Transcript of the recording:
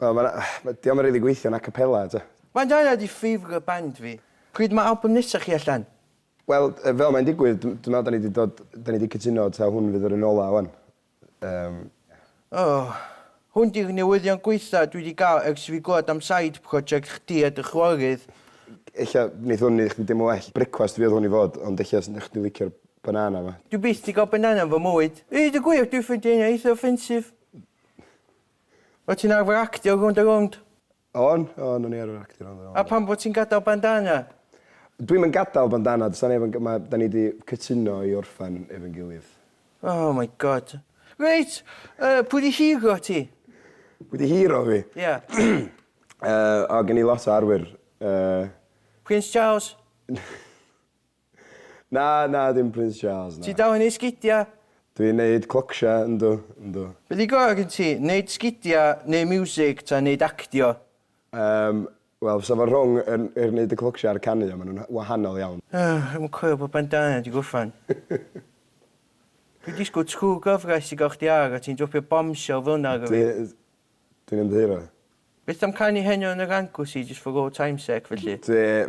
Wel ma' 'na ma' 'di o'm yn rili gweithio'n acapella t'o'. Band arall ydi favourite band fi. Pryd ma' album nesa chi allan? Wel yy fel mae'n digwydd dw- dwi me'wl 'dan ni 'di dod 'dan ni 'di cytuno taw hwn fydd yr un ola ŵan. Yym ia. O! Hwn 'di'r newyddion gwaetha dwi 'di ga'l ers i fi glwad am side project chdi a dy chwarerydd. Ella neith hwn neu' chdi deimlo well. Brecwast fi odd hwn i fod ond ella s- nech chdi licio'r banana 'ma. Dwi byth 'di ga'l banana yn fy mywyd. I ddeud y gwir dwi ffindio hynna eitha offensive. Wyt ti'n arfer actio rownd a rownd? O'n, o'n, o'n i arfer actio rownd a rownd. A pam bo' ti'n gadael bandana? Dwi'm yn gadael bandana, does 'na neb yn ga- ma', 'dan ni 'di cytuno i orffen efo'n gilydd. Oh my God. Reit, yy, pwy 'di hero ti? Pwy 'di hero fi? Ia. Yy, o, gen i lot o arwyr, yy... Prince Charles? Na, na, dim Prince Charles, na. Ti dal yn neud sgidia? Dwi'n neud clocsha, yndw, yndw. Be di gora gen ti, neud sgidia, neud miwsig, ta neud actio? Yym, wel, fysa fo rhwng yr yr neud y clocsha a'r canu, ond ma nhw'n wahanol iawn. Ych, dwi'm yn coelio bod bandana di gorffan. Dwi'n disgwyl twr gyfres i gael chdi ar a ti'n dropio bombshell fel yna arno fi. Dwi, dwi'n ymddiheuro. Beth am canu heno yn yr Anglesey just for old time's sake felly? Dwi,